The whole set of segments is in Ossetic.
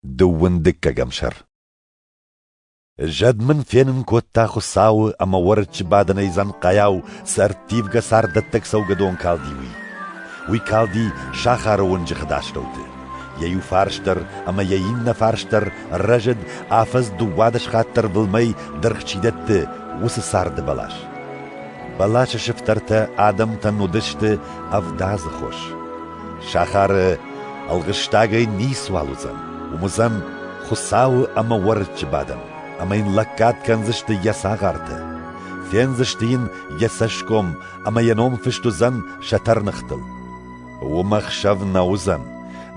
Дыууындыггӕгӕм сӕр Зӕд мын фенын кодта Хуыцауы ӕмӕ уӕрыччы бадынӕй дзӕнхъайау цы ӕрттивгӕ царддӕттӕг цӕугӕдон калди, уый. Уый калди сахары уынджыхы астӕуты. Йӕ иу фарс дӕр ӕмӕ йӕ иннӕ фарс дӕр рӕзыд, афӕдз дыууадӕс хатт дӕр былмӕй дыргъ чи дӕтты, уыцы царды бӕлас. Бӕласы сыфтӕртӕ адӕмтӕн уыдысты ӕвдадзы хос. Сахары ӕлгъыстагӕй ницуал уыдзӕн, уым уыдзӕн Хуыцауы ӕмӕ уӕрыччы бадӕн, ӕмӕ йын лӕггад кӕндзысты йӕ цагъартӕ, фендзысты йын йӕ цӕсгом ӕмӕ йӕ ном фыст уыдзӕн сӕ тӕрныхтыл. Уым ӕхсӕв нӕ уыдзӕн,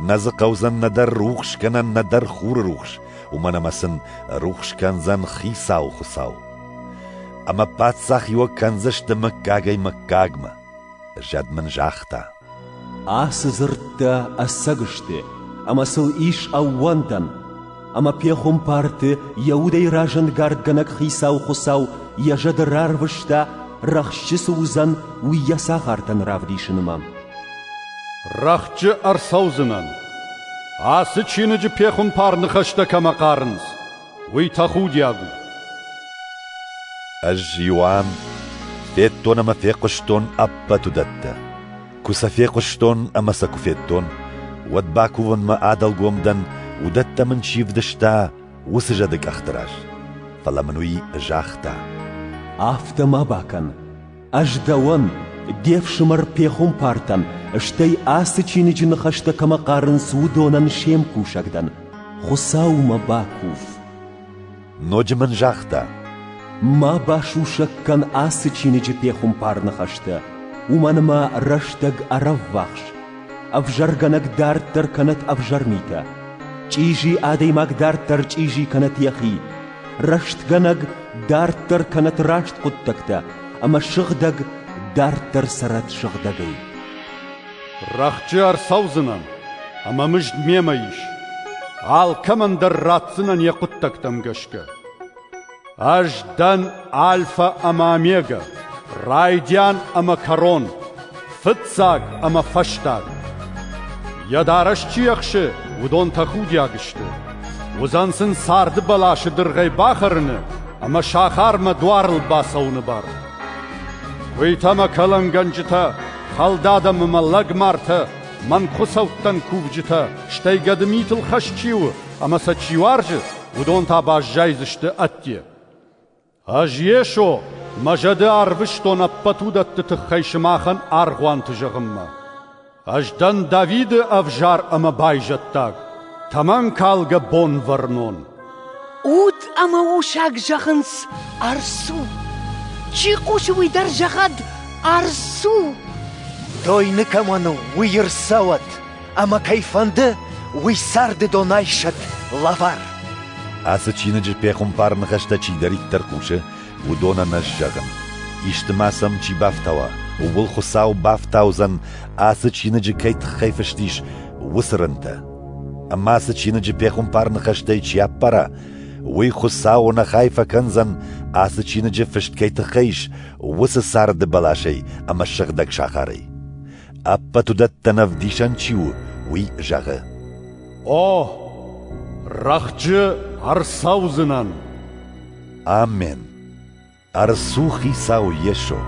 нӕ дзы хъӕудзӕн нӕдӕр рухс кӕнӕн, нӕдӕр хуры рухс, уымӕн ӕмӕ сын рухс кӕндзӕн Хицауы Хуыцау. Ӕмӕ паддзахиуӕг кӕндзысты мыггагӕй мыггагмӕ. Зӕд мын загъта: Ацы дзырдтӕ ӕцӕг сты, ӕмӕ сыл ис ӕууӕндӕн, ӕмӕ пехуымпарты йӕ удӕй разӕнгардгӕнӕг хицау Хуыцау йӕ зӕды рарвыста, рӕхджы цы уыдзӕн, уый йӕ цӕхӕртӕн равдисынмӕ. Рӕхджы ӕрцӕудзынӕн. Ацы чиныджы пехуымпар ныхӕстӕ кӕмӕ хъарынц, Уый тӕхудиаг у. Ӕз иу ам федтон ӕмӕ фехъуыстон ӕппӕт уыдӕттӕ. Куы сӕ фехъуыстон ӕмӕ сӕ куы федтон, уӕд бакувынмӕ адӕлгом дӕн, уыдӕттӕ мын чи вдыста, уыцы зӕды къӕхты раз. Фӕлӕ мын уый загъта: «Афтӕ ма бакӕн. Ӕз дӕуӕн, де фсымӕр пехуымпартӕн, стӕй ацы чиныджы ныхӕстӕ кӕмӕ хъарынц, уыдонӕн се мкусӕг дӕн. Хуыцаумӕ бакув. Ноджы мын загъта: Ма басусӕг кӕн ацы чиныджы пехуымпар ныхӕстӕ, уымӕн ӕмӕ рӕстӕг ӕрӕввахс. Ӕвзӕргӕнӕг дарддӕр кӕнӕт ӕвзӕр митӕ, чъизи адӕймаг дарддӕр чъизи кӕнӕт йӕхи, Рӕстгӕнӕг дарддӕр кӕнӕт раст хъуыддӕгтӕ, ӕмӕ сыгъдӕг дарддӕр цӕрӕт сыгъдӕгӕй. Рӕхджы ӕрцӕудзынӕн, ӕмӕ мызд мемӕ ис. Алкӕмӕн дӕр ратдзынӕн йӕ хъуыддӕгтӕм гӕсгӕ. Ӕз дӕн Альфа ӕмӕ Омега, райдиан ӕмӕ кӕрон, Фыццаг ӕмӕ фӕстаг. Йӕ дарӕс чи ӕхсы, уыдон тӕхудиаг сты. Уыдзӕн сын царды бӕласы дыргъӕй бахӕрыны ӕмӕ сахармӕ дуарыл бацӕуыны бар. Куыйтӕ мӕ кӕлӕнгӕнджытӕ, хӕлдад ӕмӕ мӕ лӕгмартӕ, мӕн хуыцӕуттӕн кувджытӕ, стӕй гӕды митыл хӕс чи у ӕмӕ сӕ чи уарзы, уыдон та баззайдзысты ӕдде. Ӕз Йесо, мӕ зӕды арвыстон ӕппӕт уыдӕтты тыххӕй сымахӕн аргъуанты зӕгъынмӕ. Ӕз дӕн Давиды ӕвзӕр ӕмӕ байзӕддаг, тӕмӕнкалгӕ Бонвӕрнон. Уд ӕмӕ усаг зӕгъынц Арсу. Чи хъусы, уый дӕр зӕгъӕд Арсу! Дойны кӕмӕн у, уый ӕрцӕуӕд! Ӕмӕ кӕй фӕнды, уый царды донӕй сӕтт лӕвар. Ацы чиныджы пехуымпар ныхӕстӕ чидӕриддӕр хъусы, уыдон ӕнӕ зӕгъын. Исты ма сӕм чи бафтауа, ууыл Хуыцау бафтаудзӕн, ацы чиныджы кӕй тыххӕй фыст ис, уыцы рынтӕ. Ӕмӕ ацы чиныджы пехуымпар ныхӕстӕй чи аппара, уый Хуыцауы ныхай фӕкӕндзӕн, ацы чиныджы фыст кӕй тыххӕй ис, уыцы царды бӕласӕй ӕмӕ сыгъдӕг сахарӕй. Ӕппӕт уыдӕттӕн ӕвдисӕн чи у, уый зӕгъы. О, рӕхджы ӕрцӕудзынӕн. Амен. Ӕрцу Хицау Йесо.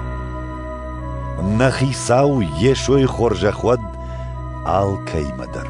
Нӕ Хицау Йесойы хорзӕх уӕд алкӕимӕ дӕр.